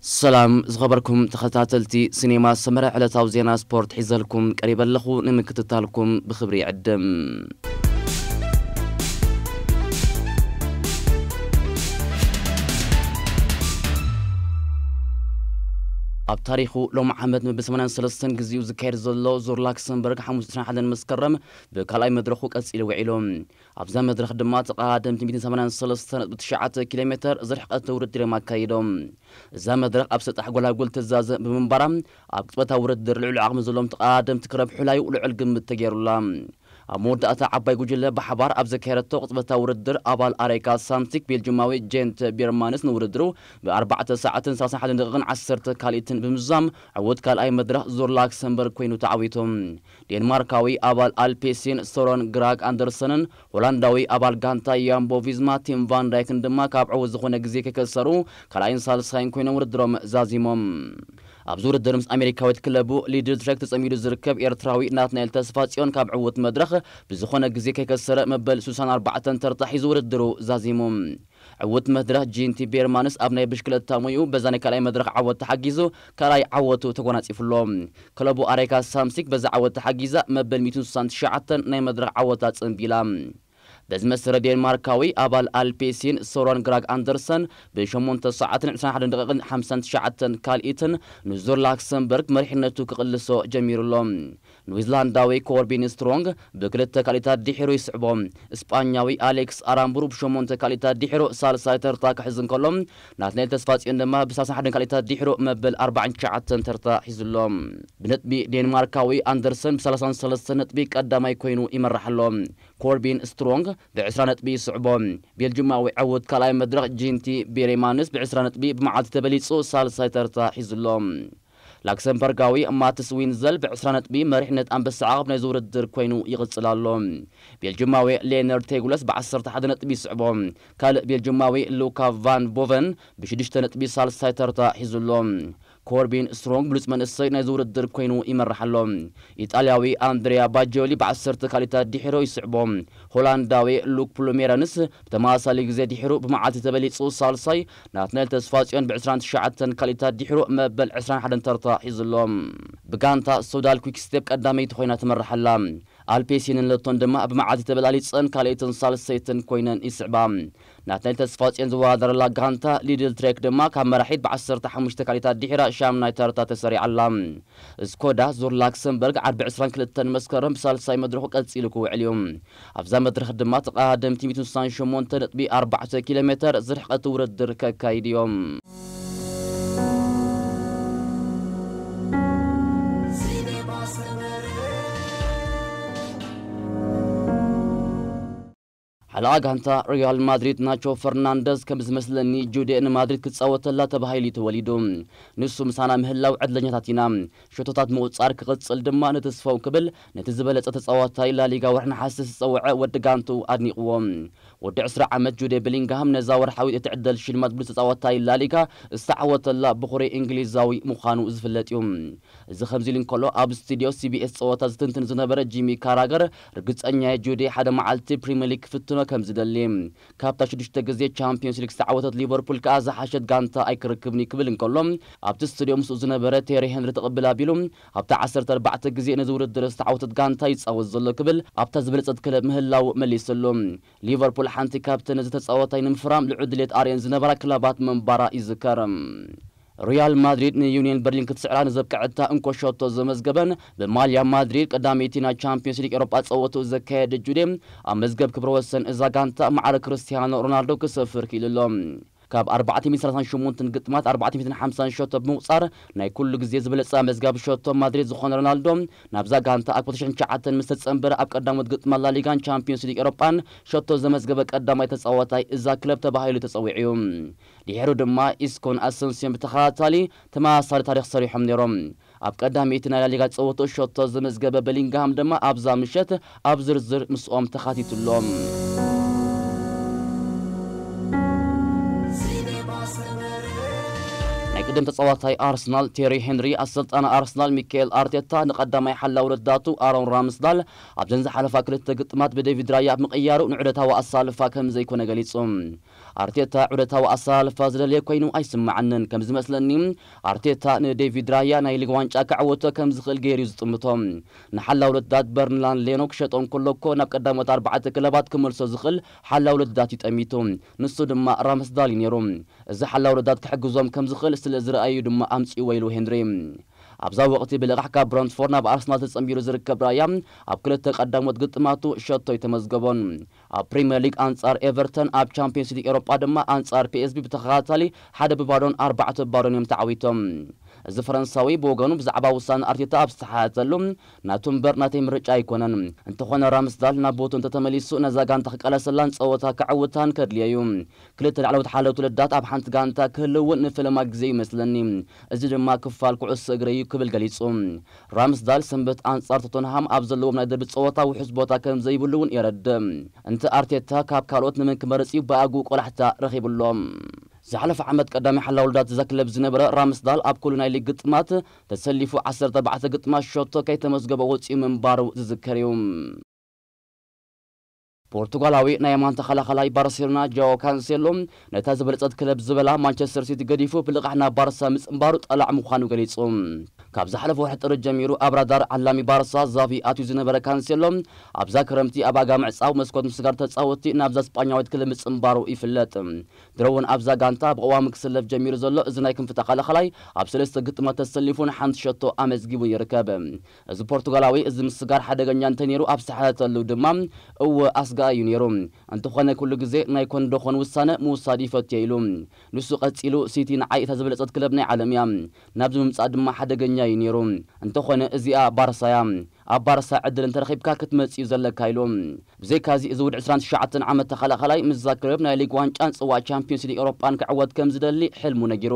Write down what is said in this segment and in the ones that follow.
ሰላም ዝኸበርኩም ተኸታተልቲ ሲኔማ ሰመረ ዕለታዊ ዜና ስፖርት ሒዘልኩም ቀሪበ ኣለኹ ንምክትታልኩም ብኽብሪ ይዕድም። ኣብ ታሪኹ ሎሚ ዓመት ንብ ሰማንያን ሰለስተን ግዚኡ ዝካየድ ዘሎ ዙር ላክሰምበርግ ሓሙስ ዕስራን ሓደን መስከረም ብካልኣይ መድረኹ ቀጺሉ ውዒሉ። ኣብዛ መድረኽ ድማ ተቐዳደምቲ ሚእትን ሰማንያን ሰለስተ ነጥቢ ትሽዓተ ኪሎ ሜተር ዝርሕቐት ውድድር'ዮም ኣካይዶም። እዛ መድረኽ ኣብ ሰጣሕ ጎላጉል ትዛዘም ብምንባራ ኣብ ቅጽበታዊ ውድድር ልዑል ዓቕሚ ዘለዎም ተቐዳደምቲ ክረብሑላ'ዩ ልዑል ግምት ተገይሩላ። ኣብ መወዳእታ ዓባይ ጉጅለ ብሓባር ኣብ ዘካየደቶ ቅጽበታዊ ውድድር ኣባል ኣሬካ ሳምሲክ ቤልጁማዊ ጀንተ ቢርማንስ ንውድድሩ ብ ኣርባዕተ ሰዓትን ሰላሳን ሓደን ደቒቕን ዓሰርተ ካልኢትን ብምዝዛም ዕዉት ካልኣይ መድረኽ ዙር ላክሰምበርግ ኮይኑ ተዓዊቱ። ዴንማርካዊ ኣባል ኣልፔሲን ሶሮን ግራግ ኣንደርሰንን ሆላንዳዊ ኣባል ጋንታ ያምቦ ቪዝማ ቲም ቫን ዳይክን ድማ ካብ ዕዉት ዝኾነ ግዜ ከይከሰሩ ካልኣይን ሳልሳይን ኮይኖም ውድድሮም ዛዚሞም። ኣብዚ ውድድር ምስ ኣሜሪካዊት ክለቡ ሊድልትረክ ተጸሚዱ ዝርከብ ኤርትራዊ ናትናኤል ተስፋጽዮን ካብ ዕዉት መድረኽ ብዝኾነ ግዜ ከይከሰረ መበል ስሳን ኣርባዕተን ተርታ ሒዙ ውድድሩ ዛዚሙ። ዕውት መድረኽ ጂንቲ ቤርማንስ ኣብ ናይ ብሽክለታ ሞይኡ በዛ ናይ ካልኣይ መድረኽ ዓወት ተሓጊዙ ካልኣይ ዓወቱ ተጎናጺፉ ኣሎ። ክለቡ ኣሬካ ሳምሲክ በዛ ዓወት ተሓጊዛ መበል ሚእትን ስሳን ትሽዓተን ናይ መድረኽ ዓወታ ጽንቢላ። በዚ መሰረት ዴንማርካዊ ኣባል ኣልፔሲን ሶረን ግራግ ኣንደርሰን ብ ሸሞንተ ሰዓትን ዕስራን ሓደን ደቒቕን ሓምሳን ትሽዓተን ካልኢትን ንዙር ላክሰምበርግ መሪሕነቱ ክቕልሶ ጀሚሩ ኣሎ። ንዊዝላንዳዊ ኮርቢን ስትሮንግ ብክልተ ካልኢታት ድሒሩ ይስዕቦ። ስጳኛዊ ኣሌክስ ኣራምቡሩ ብሸሞንተ ካልኢታት ድሒሩ ሳልሳይ ተርታ ክሕዝ እንከሎ፣ ናትናኤል ተስፋጽዮን ድማ ብሳልሳን ሓደን ካልኢታት ድሒሩ መበል ኣርባዓን ትሽዓተን ተርታ ሒዙ'ሎ። ብነጥቢ ዴንማርካዊ ኣንደርሰን ብሰላሳን ሰለስተን ነጥቢ ቀዳማይ ኰይኑ ይመርሕ ኣሎ። ኮርቢን ስትሮንግ ብዕስራ ነጥቢ ይስዕቦ። ቤልጁማዊ ዕዉት ካልኣይ መድረኽ ጂንቲ ቤሬማንስ ብዕስራ ነጥቢ ብመዓልቲ ተበሊጹ ሳልሳይ ተርታ ሒዙ'ሎ። ላክሰምበርጋዊ ማትስ ዊንዘል ብ ዕስራ ነጥቢ መሪሕነት ኣንበሳ ዓቐብ ናይዚ ውድድር ኮይኑ ይቕጽል ኣሎ። ቤልጁማዊ ሌነር ቴጉለስ ብ ዓሰርተ ሓደ ነጥቢ ይስዕቦ። ካልእ ቤልጁማዊ ሉካ ቫን ቦቨን ብ ሽዱሽተ ነጥቢ ሳልሳይ ተርታ ሒዙ ኣሎ። ኮርቢን ስትሮንግ ብሉጽ መንእሰይ ናይዚ ውድድር ኮይኑ ይመርሕ ኣሎ። ኢጣልያዊ ኣንድሪያ ባጂዮሊ ብ ዓሰርተ ካልኢታት ዲሒሩ ይስዕቦ። ሆላንዳዊ ሉክ ፕሉሜረንስ ብተመሳሳሊ ግዜ ዲሒሩ ብመዓልቲ ተበሊጹ ሳልሳይ፣ ናትናኤል ተስፋጽዮን ብዕስራን ትሽዓተን ካልኢታት ድሒሩ መበል ዕስራን ሓደን ተርታ ሒዙ ኣሎ። ብጋንታ ሶዳል ኲክስቴፕ ቀዳመይቲ ኮይና ትመርሕ ኣላ። ኣልፔሲንን ሎቶን ድማ ኣብ መዓልቲ ተበላሊጸን ካልኣይትን ሳልሰይትን ኮይነን ይስዕባ። ናትናኤል ተስፋጽዮን ዝወዳደረላ ጋንታ ሊድል ትሬክ ድማ ካብ መራሒት ብዓሰርተ ሓሙሽተ ካልኢታት ድሒራ ሻምናይ ተርታ ተሰሪዓ ኣላ። ስኮዳ ዙር ላክሰምበርግ ዓርቢ ዕስራን ክልተን መስከረም ብሳልሳይ መድረኹ ቀጺሉ ክውዕል እዩ። ኣብዛ መድረኽ ድማ ተቐዳደምቲ ሚእትን ስሳን ሸሞንተ ነጥቢ ኣርባዕተ ኪሎ ሜተር ዝርሕቐት ውድድር ከካይዱ እዮም። ሓለቓ ጋንታ ሪያል ማድሪድ ናቾ ፈርናንደዝ ከም ዝመስለኒ ጁዴ ንማድሪድ ክጻወተላ ተባሂሉ'ዩ ተወሊዱ። ንሱ ምሳና ምህላው ዕድለኛታት ኢና። ሸቶታት ምቑጻር ክቕጽል ድማ ንትስፎው ክብል ነቲ ዝበለጸ ተጻዋታይ ላሊጋ ወርሒ ነሓሰ ዝጸወዐ ወዲ ጋንትኡ ኣድኒቕዎ። ወዲ ዕስራ ዓመት ጁዴ ብሊንግሃም ነዛ ወርሓዊት እትዕደል ሽልማት ብሉጽ ተጻዋታይ ላሊጋ ዝተዓወተላ ብኹሪ እንግሊዛዊ ምዃኑ ዝፍለጥ'ዩ። እዚ ከምዚ'ሉ እንከሎ ኣብ ስቱድዮ ሲቢኤስ ጸወታ ዝትንትን ዝነበረ ጂሚ ካራገር ርግጸኛ'የ ጁዴ ሓደ መዓልቲ ፕሪመሊግ ክፍትኖ ከምዝደሊ ካብታ ሽዱሽተ ግዜ ቻምፕዮንስ ሊግ ዝተዓወተት ሊቨርፑል ከኣ ዝሓሸት ጋንታ ኣይክረክብን'ዩ ክብል እንከሎ፣ ኣብቲ ስትድዮ ምስኡ ዝነበረ ቴሪ ሄንሪ ትቕብል ኣቢሉ፣ ኣብታ ዓሰርተ ኣርባዕተ ግዜ ነዚ ውድድር ዝተዓወተት ጋንታ ይጻወት ዘሎ ክብል ኣብታ ዝበለጸት ክለብ ምህላዉ መሊሰሉ። ሊቨርፑል ሓንቲ ካብተን ነዚ ተጻዋታይ ንምፍራም ልዑል ድሌት ኣርእየን ዝነበራ ክለባት ምንባራ ይዝከር። ሪያል ማድሪድ ንዩንየን በርሊን ክትስዕራ ንዘብቀዐታ እንኮ ሸቶ ዘመዝገበን ብማልያ ማድሪድ ቀዳመይቲ ናይ ቻምፕዮንስ ሊግ ኤሮጳ ጸወትኡ ዘካየደ ጁዴ ኣብ መዝገብ ክብረ ወሰን እዛ ጋንታ ማዕረ ክርስትያኖ ሮናልዶ ክሰፍር ክኢሉ ኣሎ። ካብ ኣርባዕተ ሚእትን ሰላሳን ሸሞንተን ግጥማት ኣርባዕተ ሚእትን ሓምሳን ሸቶ ብምቑጻር ናይ ኩሉ ግዜ ዝበለጸ ኣመዝጋቢ ሸቶ ማድሪድ ዝኾነ ሮናልዶ ናብዛ ጋንታ ኣብ ክልተ ሽሕን ትሽዓተን ምስ ተጸንበረ ኣብ ቀዳሞት ግጥማት ላሊጋን ቻምፕዮንስ ሊግ ኤሮጳን ሸቶ ዘመዝገበ ቀዳማይ ተጻዋታይ እዛ ክለብ ተባሂሉ ተጸዊዑ'ዩ። ድሒሩ ድማ ኢስኮን ኣሰንስዮን ብተኸታታሊ ተመሳሳሊ ታሪኽ ሰሪሖም ነይሮም። ኣብ ቀዳመይቲ ናይ ላሊጋ ጸወትኡ ሸቶ ዘመዝገበ በሊንግሃም ድማ ኣብዛ ምሸት ኣብ ዝርዝር ምስኦም ተኻቲቱ ኣሎ። ናይ ቅድም ተጻዋታይ ኣርሰናል ቴሪ ሄንሪ፣ ኣሰልጣኒ ኣርሰናል ሚካኤል ኣርቴታ ንቀዳማይ ሓላዊ ረዳቱ ኣሮን ራምስዳል ኣብዘን ዝሓለፋ ክልተ ግጥማት ብደቪድ ራያ ምቕያሩ ንዑደታዊ ኣሰላልፋ ከምዘይኮነ ገሊጹ። ኣርቴታ ዑደታዊ ኣሰላልፋ ዝደልየ ኮይኑ ኣይስመዓንን። ከም ዝመስለኒ ኣርቴታ ንዴቪድ ራያ ናይ ሊግ ዋንጫ ከዕወቶ ከም ዝኽእል ገይሩ'ዩ ዝጥምቶ። ንሓላው ልዳት በርንላን ሌኖ ክሸጦ እንከሎ'ኮ ናብ ቀዳሞት ኣርባዕተ ክለባት ክመልሶ ዝኽእል ሓላው ልዳት'ዩ ጠሚቱ። ንሱ ድማ ራምስዳል'ዩ ነይሩ። እዚ ሓላው ልዳት ክሕግዞም ከም ዝኽእል ስለ ዝረኣየ'ዩ ድማ ኣምጺእዎ ኢሉ ሄንሪ። ኣብዛ ወቕቲ ብልቓሕ ካብ ብረንትፎርድ ናብ ኣርሰናል ተጸንቢሩ ዝርከብ ራያ ኣብ ክልተ ቀዳሞት ግጥማቱ ሸቶ'ዩ ተመዝገቦን ኣብ ፕሪመር ሊግ ኣንጻር ኤቨርተን ኣብ ቻምፕዮንስ ሊግ ኤሮጳ ድማ ኣንጻር ፒኤስቪ ብተኸታታሊ ሓደ ብባዶን ኣርባዕተ ብባዶን እዮም ተዓዊቶም። እዚ ፈረንሳዊ ብወገኑ ብዛዕባ ውሳነ ኣርቴታ ኣብ ዝተሓተተሉ ናቱ እምበር ናተይ ምርጫ ኣይኮነን። እንተኾነ ራምስዳል ናብ ቦትኡ እንተተመሊሱ ነዛ ጋንታ ክቃለሰላን ጸወታ ከዕውታን ከድልዮ'ዩ። ክልተ ላዕለዎት ሓለውቲ ልዳት ኣብ ሓንቲ ጋንታ ክህልው እውን ንፈለማ ግዜ'ዩ መስለኒ። እዚ ድማ ክፋል ኩዕሶ እግሪ'ዩ ክብል ገሊጹ። ራምስዳል ሰንበት ኣንጻር ቶተንሃም ኣብ ዘለዎም ናይ ደርቢ ጸወታ ውሑስ ቦታ ከም ዘይብሉ እውን የረድእ። እንተ ኣርቴታ ካብ ካልኦት ንመን ክመርጽ እዩ ብኣግኡ ቆላሕታ ረኺቡ ኣሎ። ዝሓለፈ ዓመት ቀዳማይ ሓላዊ ልዳት እዛ ክለብ ዝነበረ ራምስዳል ኣብ ኩሉ ናይ ሊግ ግጥማት ተሰሊፉ ዓሰርተ ኣርባዕተ ግጥማት ሸቶ ከይተመዝገቦ ወጺኡ ምንባሩ ዝዝከር እዩ። ፖርቱጋላዊ ናይ የማን ተኸላኻላይ ባርሴሎና ጃኦ ካንሴሎ ነታ ዝበለጸት ክለብ ዝበላ ማንቸስተር ሲቲ ገዲፉ ብልቓሕ ናብ ባርሳ ምጽንባሩ ጠላዕ ምዃኑ ገሊጹ። ካብ ዝሓለፈ ወርሒ ጥሪ ጀሚሩ ኣብ ራዳር ዓላሚ ባርሳ ዛቪ ኣትዩ ዝነበረ ካንሴሎ ኣብዛ ክረምቲ ኣብ ኣጋ ምዕጻው መስኮት ምስጋር ተጻወትቲ ናብዛ ስጳኛዊት ክለብ ምጽንባሩ ይፍለጥ። ድሮ'ውን ኣብዛ ጋንታ ብቐዋሚ ክስለፍ ጀሚሩ ዘሎ እዚ ናይ ክንፊ ተኸላኻላይ ኣብ ሰለስተ ግጥማት ተሰሊፉ ንሓንቲ ሸቶ ኣመዝጊቡን ይርከብ። እዚ ፖርቱጋላዊ እዚ ምስጋር ሓደገኛ እንተ ነይሩ ኣብ ዝሰሓተተሉ ድማ እወ ኣስጋኢ እዩ ነይሩ። እንተኾነ ኩሉ ግዜ ናይ ኮን ዶ ኾን ውሳነ ምውሳድ ይፈቱ እየ ኢሉ። ንሱ ቀጺሉ ሲቲ ንዓይ እታ ዝበለጸት ክለብ ናይ ዓለም እያ። ናብዚ ምምጻእ ድማ ሓደገኛ እዩ ነይሩ። እንተኾነ እዚኣ ባርሳ እያ። ኣብ ባርሳ ዕድል እንተ ረኺብካ ክትመጽእ እዩ ዘለካ ኢሉ። ብዘይካዚ እዚ ውድ ዕስራን ትሽዓተን ዓመት ተኸላኻላይ ምስዛ ክለብ ናይ ሊግ ዋንጫን ጽዋእ ቻምፕዮንስ ሊግ ኤውሮጳን ክዕወት ከም ዝደሊ ሕልሙ ነጊሩ።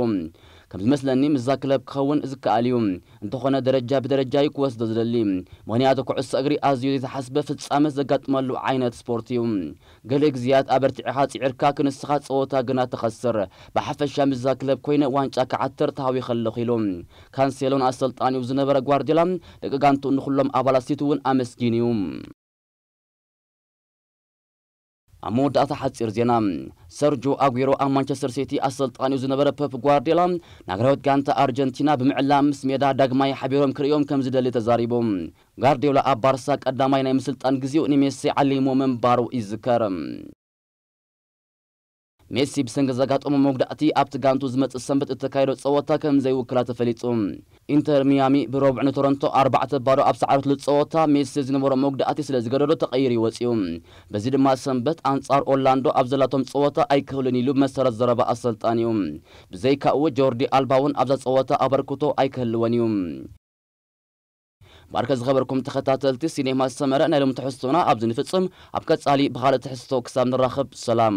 ከም ዝመስለኒ ምስዛ ክለብ ክኸውን ዝከኣል እዩ። እንተኾነ ደረጃ ብደረጃ ዩ ክወስዶ ዝደሊ ምኽንያቱ ኩዕሶ እግሪ ኣዝዩ ዘይተሓስበ ፍጻመ ዘጋጥመሉ ዓይነት ስፖርት ዩ። ገለ ግዝያት ኣበርቲዕኻ ጽዒርካ ክንስኻ ጸወታ ግና ትኸስር፣ ብሓፈሻ ምስዛ ክለብ ኮይነ ዋንጫ ክዓትር ተሃዊኸ ኣለኹ ኢሉ። ካንሴሎ ንኣሰልጣኒኡ ዝነበረ ጓርድዮላ፣ ደቂ ጋንትኡን ንኹሎም ኣባላት ሲቲ'ውን ኣመስጊኑ ዩ። ኣብ መወዳእታ ሓጺር ዜና። ሰርጆ ኣጉዌሮ ኣብ ማንቸስተር ሲቲ ኣሰልጣኒኡ ዝነበረ ፐፕ ጓርድዮላ ንሃገራዊት ጋንታ ኣርጀንቲና ብምዕላም ምስ ሜዳ ዳግማይ ሓቢሮም ክርእዮም ከምዝደሊ ተዛሪቡ። ጋርድዮላ ኣብ ባርሳ ቀዳማይ ናይ ምስልጣን ግዜኡ ንሜሲ ዓሊሙ ምንባሩ ይዝከር። ሜሲ ብሰንኪ ዘጋጠሞ መጉዳእቲ ኣብቲ ጋንትኡ ዝመጽእ ሰንበት እተካይዶ ጸወታ ከም ዘይውክላ ተፈሊጡ። ኢንተር ሚያሚ ብሮቡዕ ንቶሮንቶ ኣርባዕተ ባዶ ኣብ ዝሰዓረትሉ ጸወታ ሜሲ ዝነበሮ መጉዳእቲ ስለ ዝገደዶ ተቐይሩ እዩ ወጺኡ። በዚ ድማ ሰንበት ኣንጻር ኦርላንዶ ኣብ ዘላቶም ጸወታ ኣይክህሉን ኢሉ ብመሰረት ዘረባ ኣሰልጣኒኡ። ብዘይካኡ ጆርዲ ኣልባ'ውን ኣብዛ ጸወታ ኣበርክቶ ኣይክህልዎን እዩ። ባርከ ዝኸበርኩም ተኸታተልቲ ሲኔማ ሰመረ ናይ ሎሚ ትሕዝቶና ኣብዚ ንፍጽም ኣብ ቀጻሊ ብኻልእ ትሕዝቶ ክሳብ ንራኸብ ሰላም።